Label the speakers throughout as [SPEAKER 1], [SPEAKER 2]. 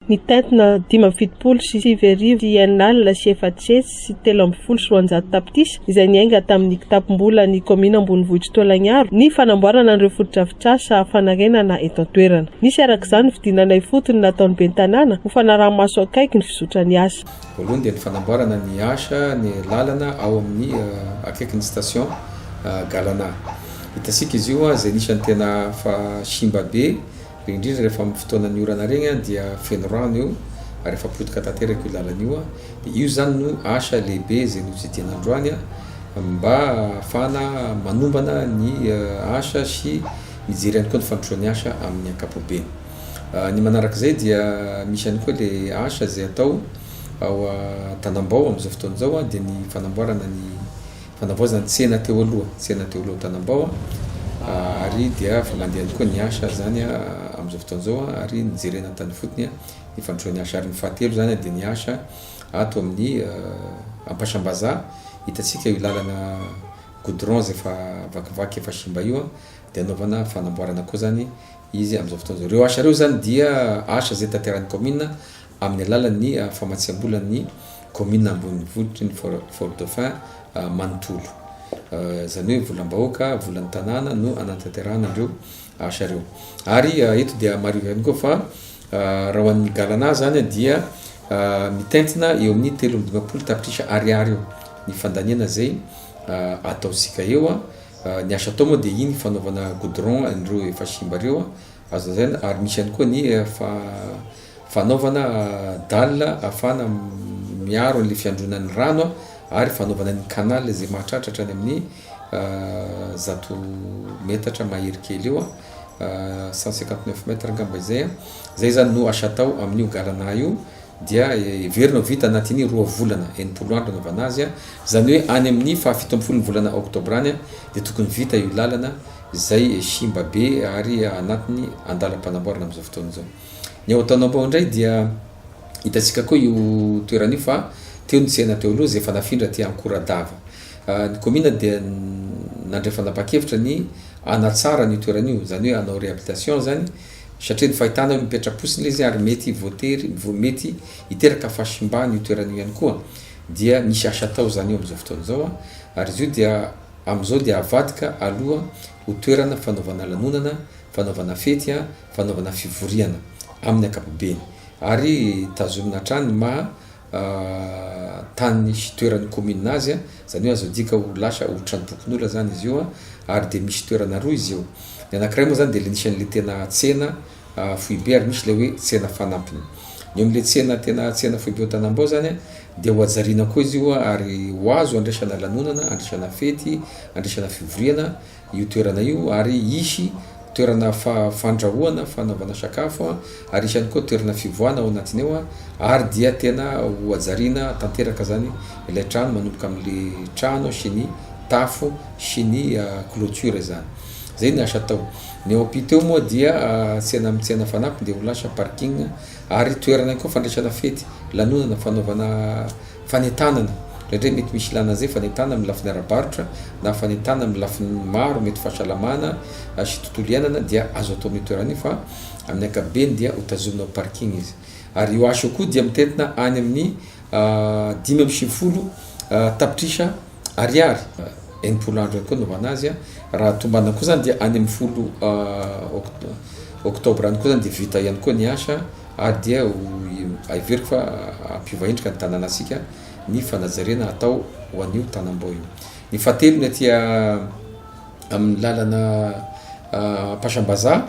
[SPEAKER 1] Mitentina dimy amby fitopolo sy sivy arivo sy enina alina sy efatsihetsy sy telo ambin'ny folo sy roanjato tapitrisa izay niainga tamin'ny kitapom-bolan'ny kaominina ambonivohitr'i Toalagnaro ny fanamboarana an'ireo fotodrafitrasa fanarenana eto an-toerana. Nisy araka izany ny fidinana ifotony nataon'ny ben'ny tanàna ho fanaraha-maso akaiky ny fizotran'ny asa. Voalohany dia ny fanamboarana
[SPEAKER 2] ny asa ny lalana ao amin'ny akaikin'ny station Galana. Hitantsika izy io izay anisan'ny tena efa simba be. Be indrindra rehefa amin'ny fotoanan'ny orana regny an dia feno rano eo ary efa potika tanteraka io lalana io an dia io zany no asa lehibe izay notsidihina androany an mba ahafahana manombana ny asa sy mijery ihany koa ny fandrosoan'ny asa amin'ny ankapobeny. Ny manarak'izay dia misy ihany koa le asa izay atao ao an-tanambao amin'izao fotoana izao an dia ny fanamboarana ny Fanavaozana tsena teo aloha, tsena teo aloha Tanambao ary dia avy mandeha ihany koa ny HR zany amin'izao fotoana izao ary ny jerena tany ifotony ny fandrosoan'ny HR. Ny fahatelo zany dia ny asa ato amin'ny Ampasambazaha, hitantsika io lalana goudron izay efa vakivaky efa simba io dia anaovana fanamboarana koa zany izy amin'izao fotoana izao. Ireo asa ireo zany dia asa izay tanterahin'ny kaominina. amin'ny alalan'ny famatsiambolan'ny kaominina ambonivotry ny Fort Dauphin manontolo. Izany hoe volam-bahoaka, volan'ny tanàna no hanatanterahana ireo asa ireo. Ary eto dia mariho ihany koa fa raha ho an'ny galana izany dia mitentina eo amin'ny telo amby dimampolo tapitrisa ariary eo ny fandaniana izay ataontsika eo. Ny asa atao moa dia iny fanaovana goudron an'ireo efa simba ireo Azo lazaina ary misy ihany koa ny fanaovana dalle ahafahana miaro an'ilay fiandronan'ny rano ary fanaovana ny canal izay mahatratra hatrany amin'ny zato metatra mahery kely eo, cent cinquante neuf mètres angamba izay. Izay izany no asa atao amin'io galana io dia heverina ho vita anatin'ny roa volana, enimpolo andro anaovana azy. Izany hoe any amin'ny fahafito ambin'ny folon'ny volana oktobra any dia tokony vita io lalana. izay simba be ary anatiny andalam-panamboarana amin'izao fotoana izao. Ny ao Antanambao indray dia hitantsika koa io toerana io fa teo ny tsena teo aloha izay efa nafindra aty Ankoradava. Ny kaominina dia nandray fanapahan-kevitra ny hanatsara an'io toerana io, izany hoe hanao réhabilitation izany satria ny fahitana hoe mipetra-potsiny ilay izy ary mety voatery, mety hiteraka fahasimbana io toerana io ihany koa. Dia misy asa atao izany eo amin'izao fotoana izao ary izy io dia Amin'izao dia avadika aloha ho toerana fanaovana lanonana, fanaovana fety, fanaovana fivoriana amin'ny ankapobeny ary tazomina hatrany ny maha tany sy toeran'ny kaominina azy, izany hoe azo adika ho lasa ho tranompokonolona izany izy io ary dia misy toerana roa izy io, ny anankiray moa izany dia ilay nisy an'ilay tena tsena foibe ary misy ilay hoe tsena fanampiny. Ny eo amin'ilay tsena tena tsena foibe ao Tanambao izany dia ho hajariana koa izy io ary ho azo handraisana lanonana, handraisana fety, handraisana fivoriana io toerana io ary hisy toerana fandrahoana, fanaovana sakafo ary hisy ihany koa toerana fivoahana ao anatiny ao ary dia tena ho hajariana tanteraka izany ilay trano manomboka amin'ilay trano sy ny tafo sy ny clôture izany. Izay ny asa atao. Ny eo ampita eo moa dia tsena amin'ny tsena fanampiny dia ho lasa parking ary toerana ihany koa fandraisana fety, lanonana, fanaovana fanentanana. Indraindray mety misy ilàna an'izay fanentanana amin'ny lafiny ara-barotra na fanentanana amin'ny lafiny maro, mety fahasalamana sy tontolo iainana dia azo atao amin'io toerana io fa amin'ny ankapobeny dia ho tazomina ho parking izy. Ary io asa io koa dia mitentina any amin'ny dimy amby sivifolo tapitrisa. Ariary. Enimpolo andro ihany koa anaovana azy a. Raha tombana koa zany dia any amin'ny folo oktobra any koa zany dia vita ihany koa ny asa ary dia ho heveriko fa hampiova endrika ny tanànantsika ny fanajariana atao ho an'io tanambao io. Ny fahatelo ny aty amin'ny lalana Ampasambazaha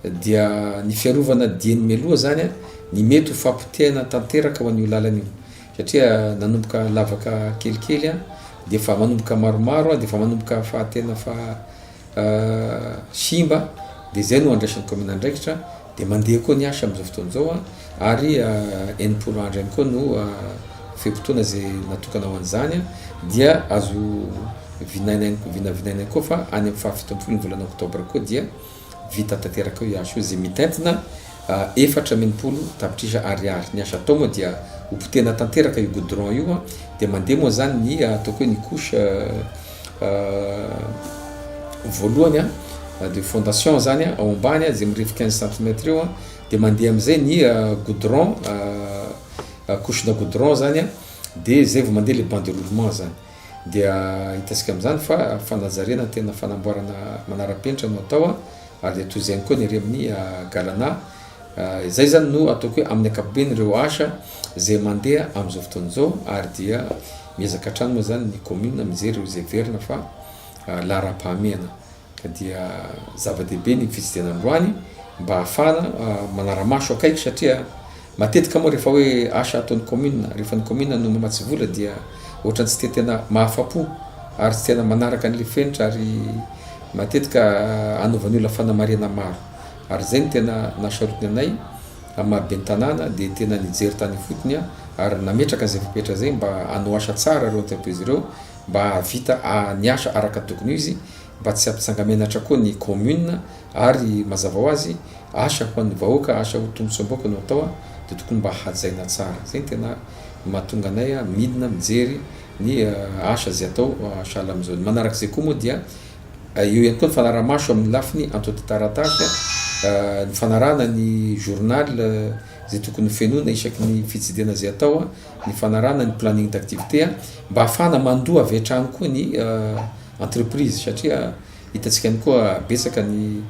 [SPEAKER 2] dia ny fiarovana dieny mialoha zany ny mety ho fahapotehana tanteraka ho an'io lalana io. satria nanomboka lavaka kelikely an, dia efa manomboka maromaro an, dia efa manomboka fa tena fa simba, dia izay no andraisan'ny kaominina andraikitra, dia mandeha koa ny asa amin'izao fotoana izao an, ary enimpolo andro ihany koa no fe-potoana izay natokana ho an'izany an, dia azo vinanaina vinavinaina koa fa any amin'ny fahafito ambin'ny folo ny volana oktobra koa dia Vita tanteraka eo ihany soa izay mitentina efatra amby enimpolo tapitrisa ariary. Ny asa atao moa dia ho potehina tanteraka io goudron io dia mandeha moa izany ny ataoko hoe ny couche voalohany de fondation izany ao ambany izay mirefy quinze centimètres eo dia mandeha amin'izay ny goudron couche-na goudron izany dia izay vao mandeha ilay banderoulement izany. Dia hitantsika amin'izany fa fanajariana ny tena fanamboarana manara-penitra no atao ary dia toy izay ihany koa ny ery amin'ny Galana. Izay izany no ataoko hoe amin'ny ankapobeny ireo asa izay mandeha amin'izao fotoana izao ary dia miezaka hatrany moa izany ny commune mijery ireo izay heverina fa laharam-pahamehana. Ka dia zava-dehibe ny fitsidiana androany mba hahafahana manara-maso akaiky satria matetika moa rehefa hoe asa ataon'ny kaominina, rehefa ny kaominina no mamatsy vola dia ohatrany tsy dia tena mahafa-po ary tsy tena manaraka an'ilay fenitra ary matetika anovan'ny olona fanamarihana maro. Ary izay no tena nahasarotiny anay amin'ny maha ben'ny tanàna dia tena nijery tany ifotony aho ary nametraka an'izay fepetra izay mba hanao asa tsara ireo antsy am-po izy ireo. mba hahavita ny asa araka ny tokony ho izy mba tsy hampitsangamenatra koa ny commune ary mazava ho azy asa ho an'ny vahoaka asa ho tombotsoam-bahoaka no atao dia tokony mba hajaina tsara zay ny tena mahatonga anay midina mijery ny asa zay atao sahala amin'izao ny manaraka izay koa moa dia eo ihany koa ny fanaramaso amin'ny lafiny antotataratasy ny fanarahana ny journal zay tokony fenoina isaky ny fitsidihana zay atao ny fanarahana ny planning d'activité a, mba hahafahana mandoa avy hatrany koa ny entreprise satria hitantsika ihany koa betsaka ny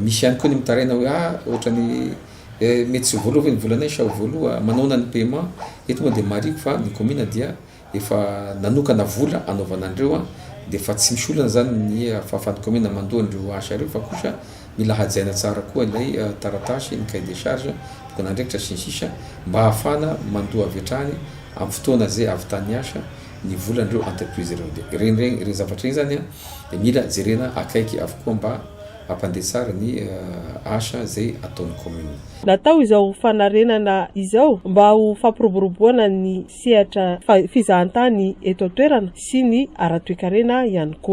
[SPEAKER 2] misy ihany koa ny mitaraina hoe ah ohatra ny mety tsy voaloha ve ny volana sa ho voaloha manaona ny paiement eto moa dia mariko fa ny commune dia efa nanokana vola anaovana an'ireo a dia efa tsy misy olana zany ny fahafahan'ny commune mandoa an'ireo asa ireo fa kosa Mila hajaina tsara koa ilay taratasy, ny cahier de charge, tokon'andraikitra, sy ny sisa Mba hahafahana mandoa avy hatrany amin'ny fotoana izay avy tany niasa ny volan'ireo entreprise ireo. Dia ireny ireny ireny zavatra ireny izany dia mila jerena akaiky avokoa mba hampandeha tsara ny asa izay ataon'ny commune. Natao izao
[SPEAKER 1] fanarenana izao mba ho fampiroboroboana ny sehatra fizahantany eto an-toerana sy ny ara-toekarena ihany koa.